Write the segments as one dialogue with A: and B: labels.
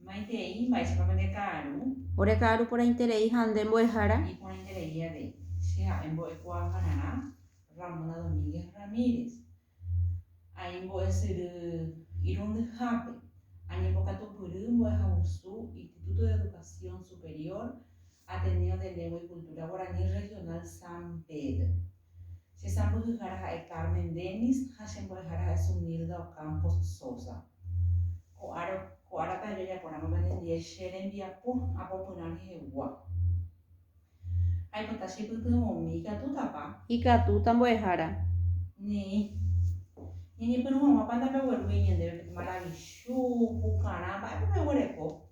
A: Maitei mba'éichapa pende ka'aru. Ore ka'aru porãiterei ha nde mbo'ehára. Ni porãiterei avei. Che ha'e mbo'ekuaahararã Ramona Domínguez Ramírez. Aimbo'esyry irundyhápe. Añembokatupyry mbo'ehagusu Instituto de Educación Superior Ateneo de Lengua y Cultura Guaraní Regional San Pedro. Che sãmbyhyhára ha'e Carmen Dennis ha che mbo'ehára ha'e Zunilda Ocampos Sosa. Ko ára, ko ára pe ajajapo ramo pende ndie che rembiapo apopyrã rehegua. Aipota che pytyvõmi, ikatútapa? Ikatúta mbo'ehára. Neĩ. Ñañepyrũ haguãpa ndapeguerúi ñandéve pe maravichu, pukarã, mba'épa peguereko?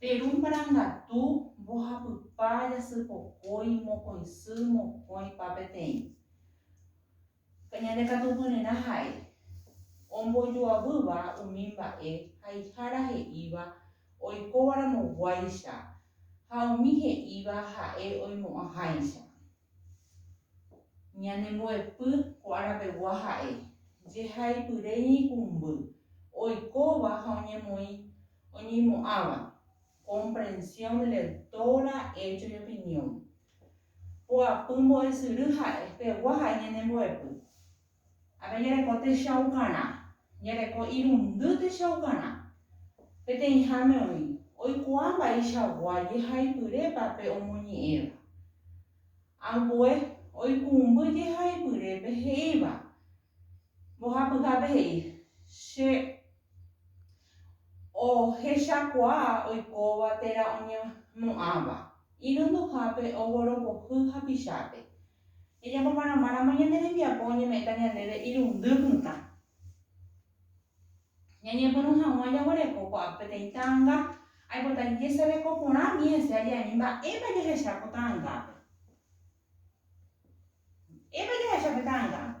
A: Peru marangatu mbohapypa jasypokói mokõisy mokõipa peteĩ. Ñandekatupyryrã ha'e, ombojoavýva umi mba'e haihára he'íva oikóvaramoguáicha ha umi he'íva ha'e oimo'ãháicha. Ñanembo'epy ko arapegua ha'e, jehaipyre ñeikũmby, oikóva ha oñemoĩ, oñeimo'ãva, comprensión de lector ha hecho y opinión. Poapy mbo'esyry ha'e, pegua ha'e ñanembo'epy. Ápe ñereko techaukarã, ñereko irundy techaukarã. Peteĩháme oĩ, oikuaa mba'eichagua jehaipyrépa pe omoñe'ẽva. Ambue, oikũmby jehaipyrépe he'íva, mbohapyhápe he'i, Che ohechakuaa oikóva térã oñemo'ãva, irunduhápe, oguoropohy hapichápe. Ejapoparamáramo ñande rembiapo oñeme'ẽta ñandéve irundy mitã. Ñañepyrũ hag̃ua jaguereko ko'ã peteĩ ta'anga, aipota jesereko porã umi hese aje'añi mba'épa jahecha ko ta'angápe. Mba'épa jahecha pe ta'angápe.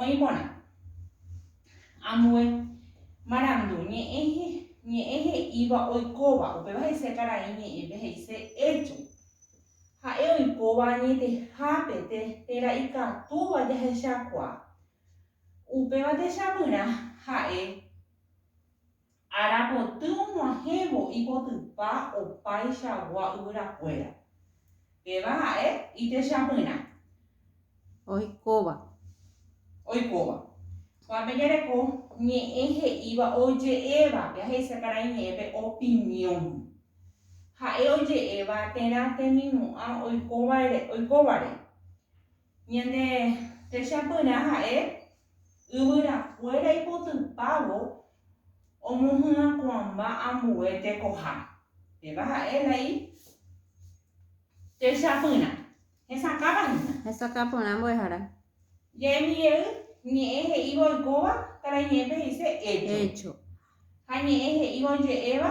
A: Oĩ porã. Ambue marandu ñe'ẽ, ñe'ẽ he'íva oikóva, upéva he'ise karai ñe'ẽpe he'ise hecho. Ha'e oikóva añetehápe te, térã ikatúva jahechakuaa. Upéva techapyrã ha'e. Arapoty og̃uahẽvo ipotypa opaichagua yvyrakuéra. Péva ha'e itechapyrã. Oikóva. Oikóva. Kuápe jareko ñe'ẽ he'íva oje'évape, ahecha karai ñe'ẽpe opinión. Ha'e oje'éva térã temimo'ã oikovare. Ñande techapyrã ha'e yvyrakuéra ipotypávo omohyakuãmba ambue tekoha. Péva ha'e la i techapyrã. Hesakãva hína. Hesakãporã mbo'ehára. Ja'emi jey, ñe'ẽ he'íva oikóva, karaiñe'ẽpe he'ise hecho. Hecho. Ha ñe'ẽ he'íva oje'éva,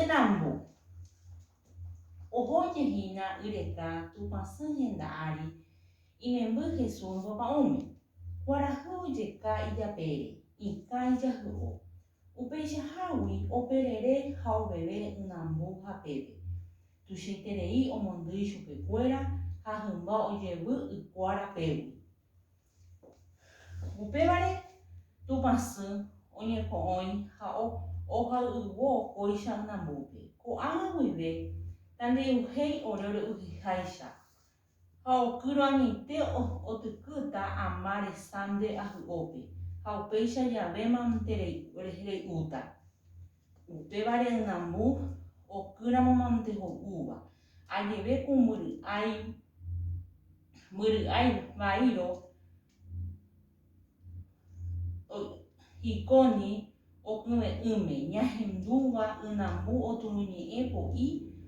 A: Ynambo, oho oje hína y reka Tupã sy henda ári, imemby Jesús ombopa'ũme. Kuarahy ojeka ijapére, ikã ijahy'o. Upeichahágui operere ha oveve ynambo hapépe. Tuichaiterei omondýi chupekuéra ha hymba ojevy y kuára pégui. Upévare Tupã Sy oñepo'õi ha ohayhuo kóicha ynambúpe. Ko'ág̃a guive Tandeyhuhéi ore ore'uhyháicha, ha okýro añoite otykýta ama resãnde ahy'ópe, ha upéicha javémante re'úta. Upéva re'ynambu okýramo mante ho'úva, ajeve ku mbyry'ái, mbyry'ái vaíro hikóni okyve'ỹme, ñahendúva ynambu oturuñe'ẽ po'i,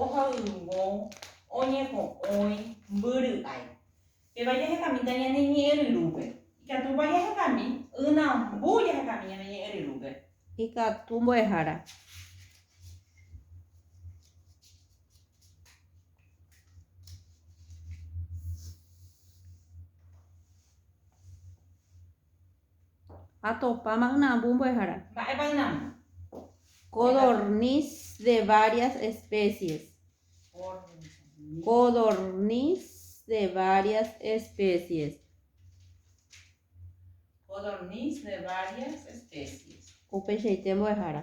A: ohayhuvo, oñepo'õi, mbyry'ái. Péva jahekamínta ñane ñe'ẽ ryrúpe. Ikatúpa jahekami? Ynambu jahekami ñane ñe'ẽ ryrúpe. Ikatu mbo'ehára. Atopáma ynambu mbo'ehára. Mba'épa ynambu? Codorniz de varias especies. Codorniz de varias especies. Codorniz de varias especies. Upeichaite mbo'ehára.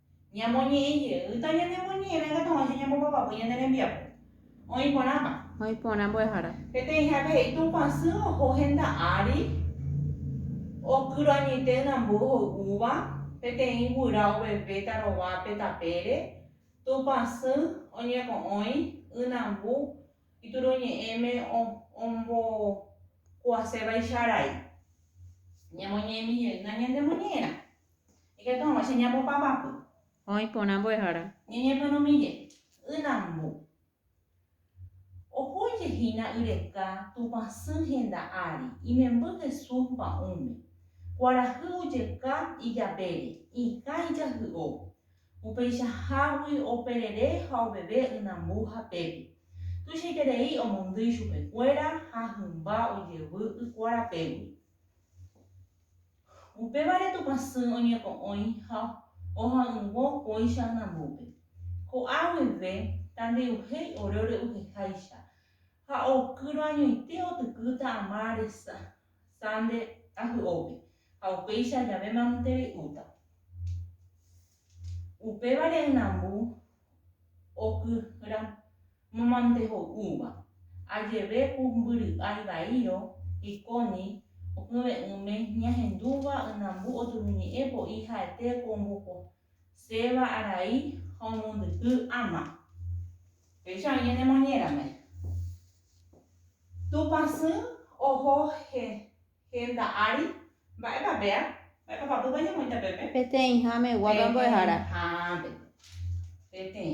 A: Ñamoñe'ẽ jeýta ñanemoñe'ẽme katu hag̃uáicha ñambopapa voi ñane rembiapo. Oĩ porãpa? Oĩ porã mbo'ehára. Peteĩhápe he'i Tupã sy oho henda ári, okyro añoite ynambo hoy'úva, peteĩ guyra ovevéta rovápe tapére, Tupã sy oñeko'õi ynambu ituruñe'ẽme ombokuasévaicha arai. Ñamoñe'ẽmi jeýna ñanemoñe'ẽrã. Ikatu hag̃ua che ñambopapapy. Oĩ porã mbo'ehára. Ñeñepyrũmije. Y nambu. Oho oike hína y reka Tupã sy henda ári, imemby Jesús mba'ũme. Kuarahy ojeka ijapére, ikã ijahy'o. Upeichahágui operere ha oveve y nambu hapépe. Tuichaiterei omondýi chupekuéra ha hymba ojevy y kuarapégui. Upévare Tupã Sy oñepo'õi ha oha'ỹvo kóicha anambópe. Ko'a guive tandeyuhéi ore ore'uheháicha ha okýro añoite otykýta ama resa sande ahy'ópe ha upéicha jave manotere'úta. Upévare ynambu okyra. Momante ho'úva, ajeve pumbyry'ái vaírõ, Iconi, okyve'ỹme ñahendúva ynambu oturuñe'ẽ po'i ha'ete ko omboposéva arai ha omondyky ama. Péicha oĩ ñane moñérame. Tupã sy oho henda ári, mba'épa péa? Mba'épa papýpa ñamoĩta pépe? Peteĩháme guápe mbo'ehára. Peteĩhápe. Peteĩ.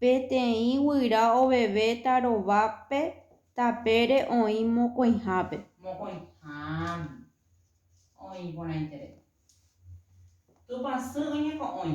A: Peteĩ guyra ovevéta rovápe tapére oĩ mokõihápe. Mokõiháme. Oĩ porãitere. Tupã sy oñeko'õi.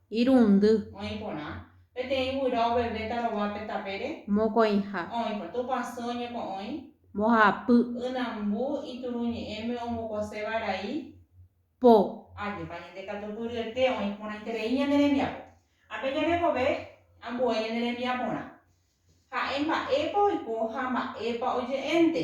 A: Irundy. Oĩ porã. Peteĩ guyra ovevéta rova pe tapére. Mokõiha. Oĩ porã. Tupãsy oñeko'õi. Mbohapy. Ynambu ituruñe'ẽme ombokose varai. Po. Ajépa ñande katu pyryete oĩ porãiterei ñande rembiapo. Ápe jarekove ambue ñande rembiaporã. Ha'e mba'épa oiko ha mba'épa oje'énte.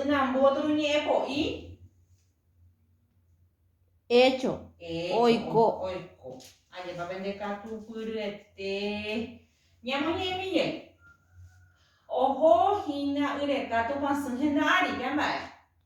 A: Ynambotru ñe'ẽpo'i. Echo. Oiko. Oiko. Ajépa pende katupyryete. Ñamoñe'ẽmi jey. Oho hína y reka Tupãsy henda ári. Pe amba'e.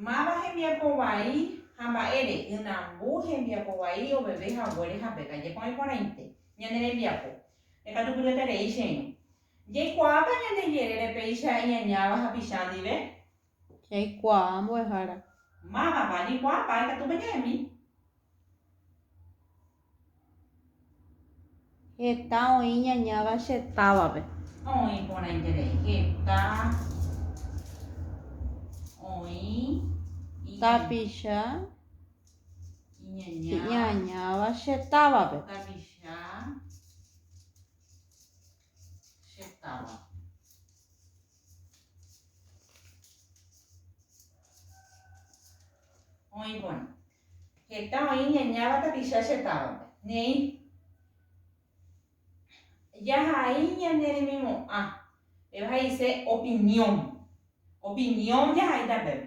A: Máva hembiapo vai ha mba'ére ynambu hembiapo vai oveve haguére ha pe kaje porãi porãite. Ñane rembiapo. Rekatupyryeterei che irũ. Jaikuaáta ñande jerére péicha iñañáva hapicha ndive? Jaikuaa mbo'ehára. Mávapa ajaikuaa mba'e katu peñe'ẽmi? Heta oĩ ñañáva che távape. Oĩ porãiterei. Heta oĩ. Tapicha iñañáva che távape. Tapicha. che táva. Oĩ porã. Heta oĩ ñañáva tapicha che távape. Neĩ. Jahai ñane remimo'ã. Péva he'ise opinión. Opinión jahaita pépe.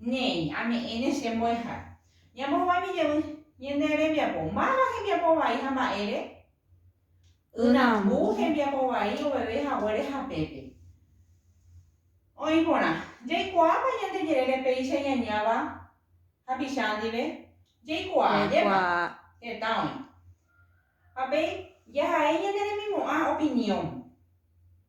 A: Néi, ame'ẽne che mbo'eha. Ñamohovái jevy, ñande rembiapo, máva hembiapo vai ha mba'ére? Yrambu hembiapo vai oveve haguére hapépe. Oĩ porã. Jaikuaápa ñande jerére péicha ñañáva hapicha ndive? Jaikuaa, jepá. Heta oĩ. Ha pe jahai ñande remimo'ã opinión.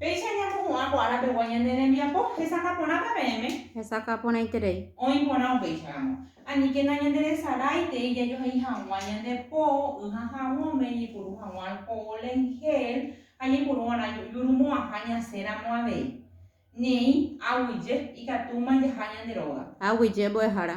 A: Péicha ñamopu'ã ko ára pegua ñane rembiapo hesakã porãta peẽme. Hesakã porãiterei. Oĩ porã upéicha ramo. Aníke nañanderesaráitei jajohe'i haguã ñande po y ha haguõme ñaipuru haguã alcohol en gel ha ñaipuru va'erã jurumo'ãha ñasẽ ramo avei. Néi, aguije, ikatúma jaha ñande róga. Aguije mbo'ehára.